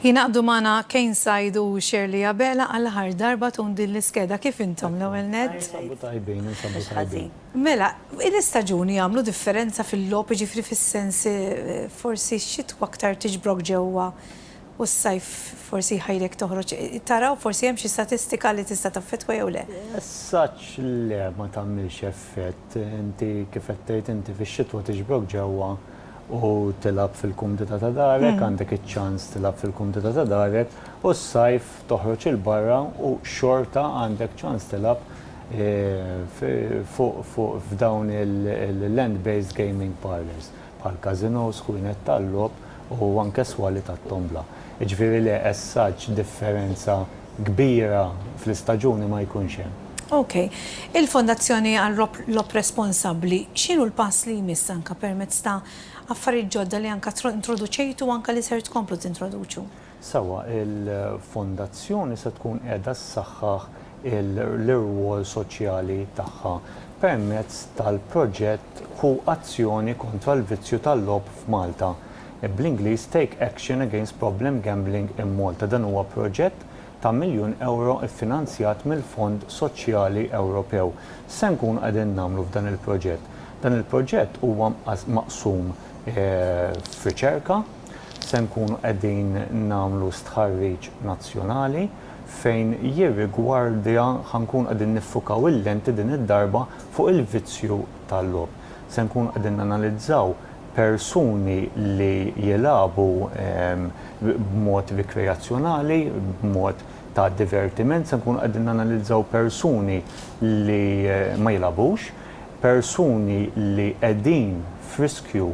Jinaqdu magħna Kane Said u Shirley Abela għal ħar darba tun din l-iskeda kif intom l-ewwel net. Mela, l-istaġuni jagħmlu differenza fil-logħob jiġifieri fis-sens eh, forsi x-xitwa aktar tiġbrok ġewwa U s-sajf forsi jħajrek toħroġ tara u forsi hemm xi statistika li tista' taffettwa jew le. As-saġġ le ma tagħmilx effett. Inti kif qed tgħid inti fix-xitwa tiġbrok ġewwa u tilgħab fil-kumdità ta' darek, għandek iċ-ċans tilgħab fil-kumdità ta' darek u s-sajf toħroġ 'il barra u xorta għandek ċans tilgħab fuq f'dawn il-land-based gaming parlours. bħal każinòs, ħwienet tal-logħob u anke swali tat-tombla. Jiġifieri le, as such, differenza kbira fl-istaġuni ma jkunx hemm. Ok. Il-Fondazzjoni għal Logħob Responsabbli, x'inhu l-pass li jmiss anke permezz ta' affarijiet ġodda li anke introduċejtu u anke li ser tkomplu tintroduċu? Sewwa, il-Fondazzjoni se tkun qiegħda ssaħħaħ l-irwol soċjali tagħha permezz tal-proġett Ħu Azzjoni Kontra l-Vizzju tal-Logħob f'Malta, bl-Ingliż Take Action Against Problem Gambling in Malta. Dan huwa proġett ta' miljun ewro ffinanzjat mill-Fond Soċjali Ewropew. X'se nkunu qegħdin nagħmlu f'dan il-proġett? Dan il-proġett huwa mqas maqsum f'riċerka, se nkunu qegħdin nagħmlu stħarriġ nazzjonali fejn jirrigwardja ħa nkunu qegħdin niffukaw il-lenti din id-darba fuq il-vizzju tal-logħob. Se nkunu qegħdin nanalizzaw persuni li jilagħbu b'mod rikreazzjonali, b'mod ta' divertiment, se nkunu qegħdin nanalizzaw persuni li ma jilagħbux, persuni li qegħdin f'riskju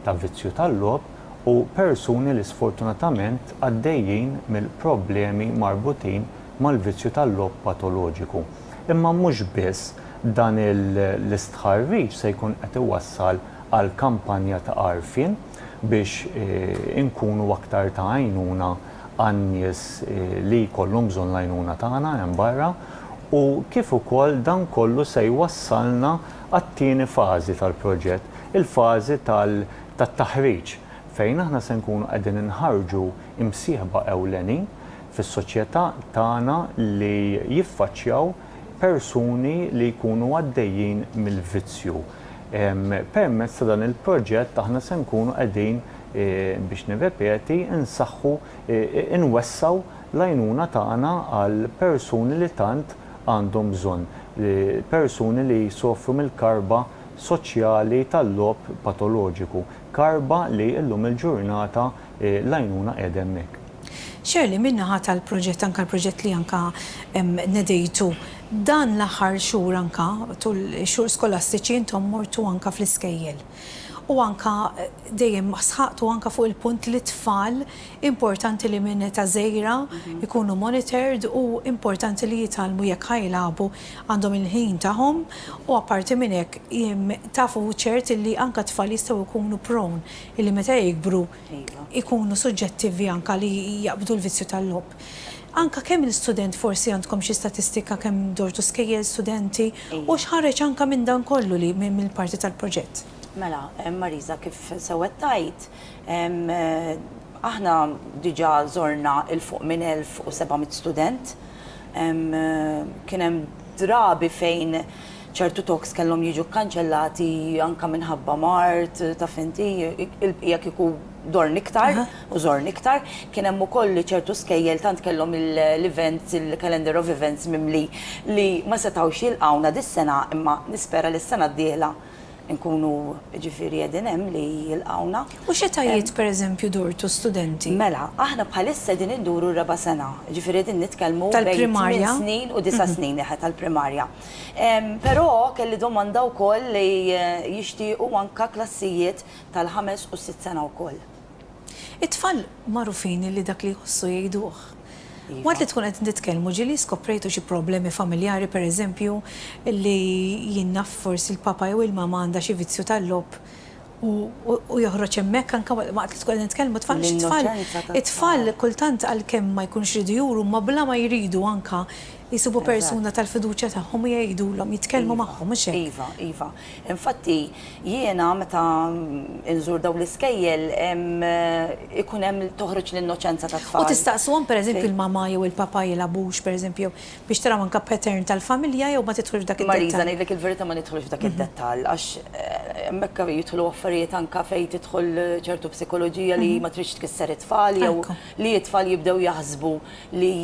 ta' vizzju tal-logħob u persuni li sfortunatament għaddejjin mill-problemi marbutin mal-vizzju tal-logħob patoloġiku. Imma mhux biss, dan l-istħarriġ se jkun qed iwassal għal kampanja ta' għarfien biex inkunu aktar ta' għajnuna għan-nies li jkollhom bżonn l-għajnuna tagħna hemm barra u kif ukoll dan kollu se jwassalna għat-tieni fażi tal-proġett, il-fażi tat-taħriġ, fejn aħna se nkunu qegħdin inħarrġu imsieħba ewlenin fis-soċjetà tagħna li jiffaċċjaw persuni li jkunu għaddejjin mill-vizzju. Permezz ta' dan il-proġett aħna se nkunu qegħdin, biex nirrepeti, insaħħu, inwessgħu l-għajnuna tagħna għall-persuni li tant għandhom bżonn persuni li jsofru mill-karba soċjali tal-logħob patoloġiku, karba li llum il-ġurnata l-għajnuna qiegħda hemmhekk. Shirley, min-naħa tal-proġett, anke l-proġett li anke nedejtu, dan l-aħħar xhur anke tul ix-xhur skolastiċi intom mortu anke fl-iskejjel u anke dejjem sħaqtu anke fuq il-punt li t-tfal Importanti li minn età żgħira jkunu monitored u importanti li jitgħallmu jekk ħa jilagħbu għandhom il-ħin tagħhom u apparti minn hekk taf u ċert illi anke t-tfal jistgħu jkunu prone illi meta jikbru jkunu suġġettivi anke li jaqbdu l-vizzju tal-logħob. Anke kemm il-student forsi għandkom xi statistika kemm dortu skejjel, studenti u x'ħareġ anke minn dan kollu li mill-parti tal-proġett? Mela, Marisa kif sewwa tgħid, Aħna diġà żorna 'l fuq minn 1,700 student. Kien hemm drabi fejn ċertu talks kellhom jiġu kkanċellati anke minħabba mard, taf inti, il-bqija kieku dorn iktar u żorn iktar. Kien hemm ukoll li ċertu skejjel tant kellhom l-events, il-calendar of events mimli li ma setgħux jilqgħuna dis-sena imma nispera li s-sena d-dieħla inkunu jiġifieri qegħdin hemm li jilqgħuna. U x'etajiet pereżempju durtu studenti? Mela, aħna bħalissa qegħdin induru r-raba' sena, jiġifieri qegħdin nitkellmu bejn tmien snin u disa' snin, eħe, tal-primarja. Però kelli domanda wkoll li jixtiequ anke klassijiet tal-ħames u s-sitt sena wkoll. It-tfal magħrufin li dak li jħossu jgħiduh. Waqt li tkun qed titkellmu ġieli skoprejtu xi problemi familjari pereżempju li jien naf forsi l-papa jew il-mama għandha xi vizzju tal-logħob u joħroġ hemmhekk anke waqt li tkun qed nitkellmu it-tfal għax it-tfal it-tfal kultant għalkemm ma jkunux iridu juru huma bla ma jridu anke Jsibu persuna tal-fiduċja tagħhom u jgħidulhom, jitkellmu magħhom, mhux hekk? Iva, iva. Infatti, jiena meta nżur dawn l-iskejjel ikun hemm toħroġ l-innoċenza tat-tfal. U tistaqsuhom, pereżempju, il-mama jew il-papa jilgħabux, pereżempju, jew biex taraw anke pattern tal-familja jew ma tidħlux f'dak id-dettall? Marisa, ngħidlek il-verità ma nidħlux f'dak id-dettall għax hemmhekk jidħlu affarijiet anke fejn tidħol ċertu psikoloġija li ma tridx tkisser it-tfal jew li t-tfal jibdew jaħsbu li.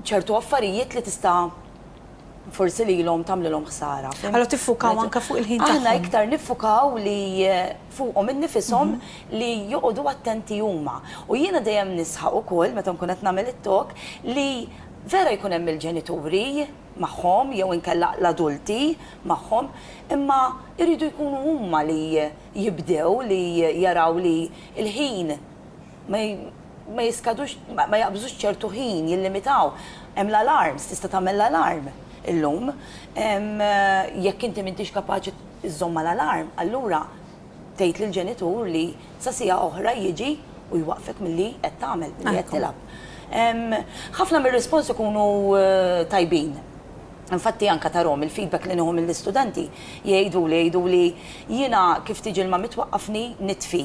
ċertu affarijiet li tista' forsi lilhom tagħmlilhom ħsara. Allura tiffukaw anke fuq il-ħin tagħhom. Aħna iktar niffukaw li fuqhom innifishom li joqogħdu attenti huma. U jiena dejjem nisħaq ukoll meta nkun qed nagħmel it-talk li vera jkun hemm il-ġenituri magħhom jew inkella l-adulti magħhom, imma jridu jkunu huma li jibdew li jaraw li l-ħin, ma jiskadux, ma jaqbżux ċertu ħin, jillimitaw. Hemm l-alarms, tista' tagħmel l-alarm illum. Jekk inti m'intix kapaċi żżomm mal-alarm, allura tgħid lill-ġenitur li sa siegħa oħra jiġi u jwaqqfek milli qed tagħmel, milli qed tilgħab. Ħafna mir-risponsi jkunu tajbin. Infatti anke tarahom il-feedback li nieħu mill-istudenti, jgħiduli, jgħiduli, jiena kif tiġi l-ma mitwaqqafni nitfi.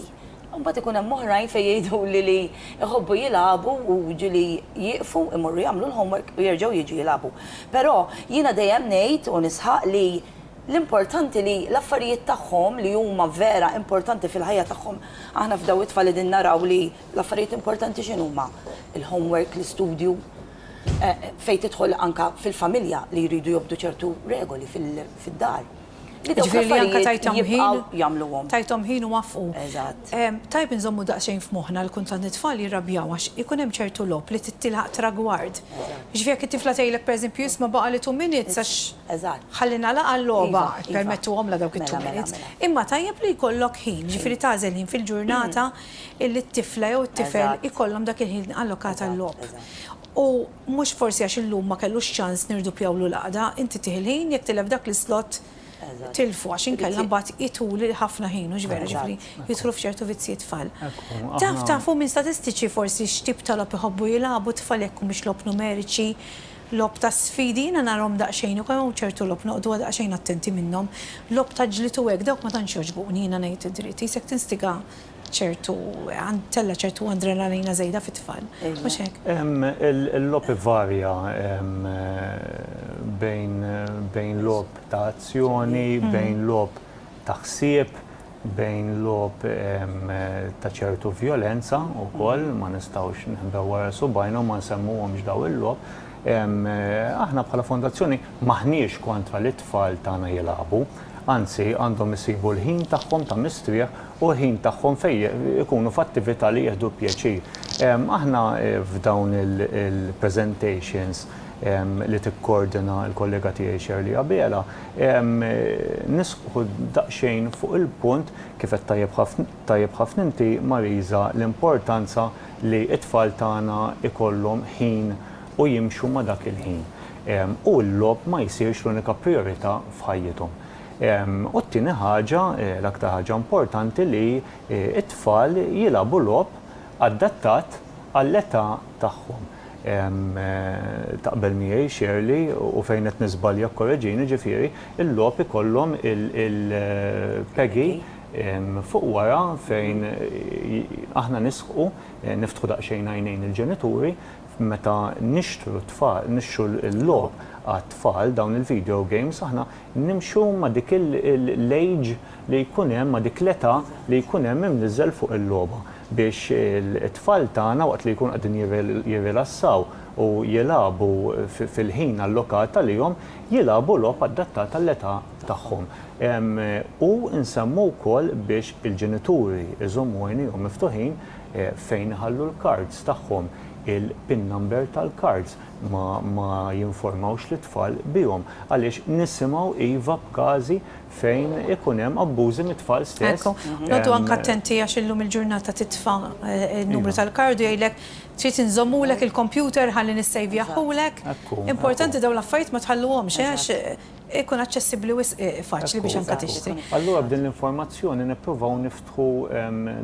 Imbagħad ikun hemm oħrajn fejn jgħiduli li jħobbu jilagħbu u jiġifieri jieqfu jmorru jagħmlu l-homework u jerġgħu jiġu jilagħbu. Però jiena dejjem ngħid u nisħaq li l-importanti li l-affarijiet tagħhom li huma vera importanti fil-ħajja tagħhom, aħna f'dawn it-tfal qegħdin naraw li l-affarijiet importanti x'inhuma? Il-homework, l-istudju, fejn tidħol anke fil-familja li jridu jobdu ċertu regoli fid-dar. Jiġifieri li anke tajthom ħin jagħmluhom. Tajthom ħin u waffqu. Eżatt. Tajjeb inżommu daqsxejn f'moħħna li kultant it-tfal jirrabjaw għax ikun hemm ċertu logħob li trid tilħaq tragward. Jiġifieri jekk it-tifla tgħidlek pereżempju isma' baqa' li two minutes għax ħalli nagħlaqha l-logħba, ippermettuhomlha dawk it-two minutes. Imma tajjeb li jkollok ħin, jiġifieri tagħżel ħin fil-ġurnata illi t-tifla jew it-tifel ikollhom dak il-ħin allokat għal-logħob. U Mhux forsi għax illum ma kellux ċans nirdupjawlu l-għaqda, inti tieħi l-ħin jekk tilef dak l-islott tilfu għax inkella mbagħad itul ħafna ħin, hux veru, jiġifieri jidħlu f'ċertu vizzji t-tfal. Taf, tafu minn statistiċi forsi x'tip ta' logħob iħobbu jilagħbu t-tfal jekk humiex logħob numeriċi, logħob ta' sfidi, jiena narhom daqsxejn u kemm hawn ċertu logħob noqogħdu daqsxejn attenti minnhom, logħob ta' ġlied u hekk dawk ma tantx jogħġbuni jiena ngħid id-dritt, qisek tinstiga ċertu, tella' ċertu adrenalina żejda fit-tfal, mhux hekk? Il-logħob ivarja bejn logħob ta' azzjoni, bejn logħob ta' ħsieb, bejn logħob ta' ċertu vjolenza wkoll, ma nistgħux nħbew wara subgħajna u ma nsemmuhomx dawn il-logħob. Aħna bħala Fondazzjoni m'aħniex kontra li t-tfal tagħna jilagħbu, anzi għandhom isibu l-ħin tagħhom ta' mistrieħ u l-ħin tagħhom fejn ikunu f'attività li jieħdu pjaċir. Aħna f'dawn il-presentations li tikkordina l-kollega tiegħi Shirley Abela, nisħqu daqsxejn fuq il-punt, kif qed tajjeb ħafna inti Marisa, l-importanza li t-tfal tagħna jkollhom ħin u jimxu ma' dak il-ħin u l-logħob ma jsirx l-unika prijorità f'ħajjithom. U t-tieni ħaġa, l-aktar ħaġa importanti li t-tfal jilagħbu logħob adattat għall-età tagħhom. Taqbel miegħi Shirley u fejn qed niżbalja kkoreġini, ġifieri l-logħob ikollhom il-Peggy. Fuq wara fejn aħna nisħqu, niftħu daqsxejn għajnejn il-ġenituri meta nixtru t-tfal, nixtru l-logħob għat-tfal, dawn il-video games, aħna nimxu ma' dik l-age li jkun hemm, ma' dik l-età li jkun hemm imniżżel fuq il-logħba biex it-tfal tagħna waqt li jkunu qegħdin jirrilassaw u jilagħbu fil-ħin allokat għalihom, jilagħbu logħob adattat għall-età. tagħhom. U nsemmu wkoll biex il-ġenituri jżommu għajnejhom miftuħin fejn iħallu l-kards tagħhom, il-pin number tal-kards, ma jinformawx lit-tfal bihom għaliex nisimgħu iva b'każi fejn ikun hemm abbużi mit-tfal stess. Ekku, noqogħdu anke attenti għax illum il-ġurnata titfa' n-numru tal-kard u jgħidlek trid inżommulek il-kompjuter ħalli nissejvjahulek. Importanti dawn l-affarijiet ma tħalluhomx għax Ikun aċċessibbli wisq faċli biex anke tixtri. Allura b'din l-informazzjoni nippruvaw niftħu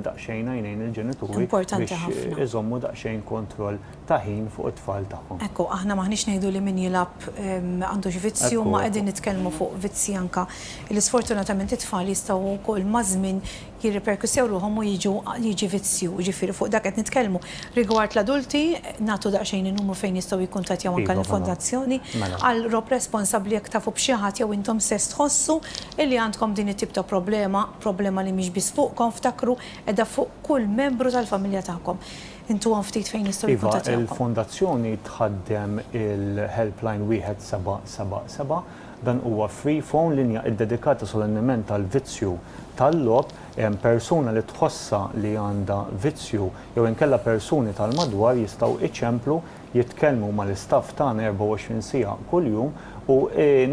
daqsxejn għajnejn il-ġenituri biex iżommu daqsxejn kontroll ta' ħin fuq it-tfal tagħhom. Ekku, aħna m'aħniex ngħidu li min jilgħab m'għandux vizzju, imma qegħdin nitkellmu fuq vizzji anke li sfortunatament it-tfal jistgħu wkoll maż-żmien jirriperkussew ruħhom u jiġu jiġi vizzju, jiġifieri fuq dak qed nitkellmu. Rigward l-adulti, nagħtu daqsxejn in-numru fejn jistgħu jikkuntattjaw anke lill-Fondazzjoni għal rob responsabbli jekk tafu b'xi ħadd jew intom stess tħossu illi għandkom din it-tip ta' problema, problema li mhix biss fuqkom, ftakru, qiegħda fuq kull membru tal-familja tagħkom. Intuhom ftit fejn jistgħu jikkuntattjawkom. Iva, il-Fondazzjoni tħaddem il-helpline wieħed seba' seba' seba' Dan huwa free phone, linja iddedikata solennement għall-vizzju tal-logħob. Persuna li tħossha li għandha vizzju jew inkella persuni tal-madwar jistgħu iċemplu, jitkellmu mal-istaff tagħna 24 siegħa kuljum u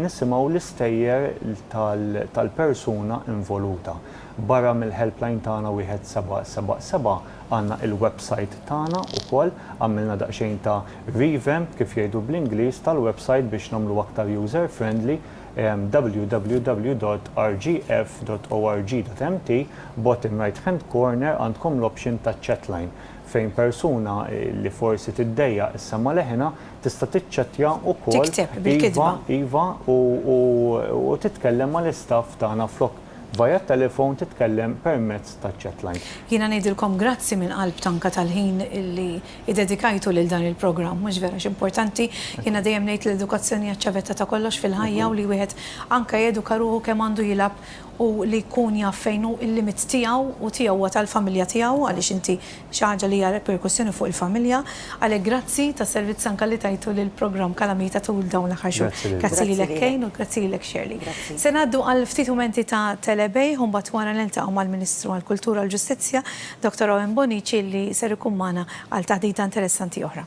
nisimgħu l-istejjer tal-persuna involuta. Barra mill-helpline tagħna 1777 għandna il-website tagħna wkoll, għamilna daqsxejn ta' Revamp, kif jgħidu bl-Ingliż, tal-websajt biex nagħmluh aktar user friendly, www.rgf.org.mt, bottom right hand corner għandkom l-option ta' chatline, fejn persuna li forsi tiddejjaq issemma' leħinha tista' tiċċettja wkoll, iva, iva, u titkellem mal-istaff tagħna flok via t-telefon titkellem permezz taċ-chatline. Jiena ngħidilkom grazzi mill-qalb tanka tal-ħin li iddedikajtu lil dan il-programm. Mhux vera x'importanti, jiena dejjem ngħid li l-edukazzjoni hija ċ-ċavetta ta' kollox fil-ħajja u li wieħed anke jeduka ruħu kemm għandu jilgħab u li jkun jaf fejn hu l-limit tiegħu u tiegħu huwa tal-familja tiegħu għaliex inti xi ħaġa li hija reperkussjoni fuq il-familja. Għalhekk grazzi tas-servizz anke li tajtu lill-programm Kalamita tul dawn l-aħħar xhur. Grazzi lilek Kane u grazzi lilek Shirley. Se ngħaddu għal ftit mumenti ta' telebejgħ u mbagħad wara niltaqgħu mal-Ministru għall-Kultura u l-Ġustizzja Doctor Owen Bonnici li ser ikun magħna għal taħdita interessanti oħra.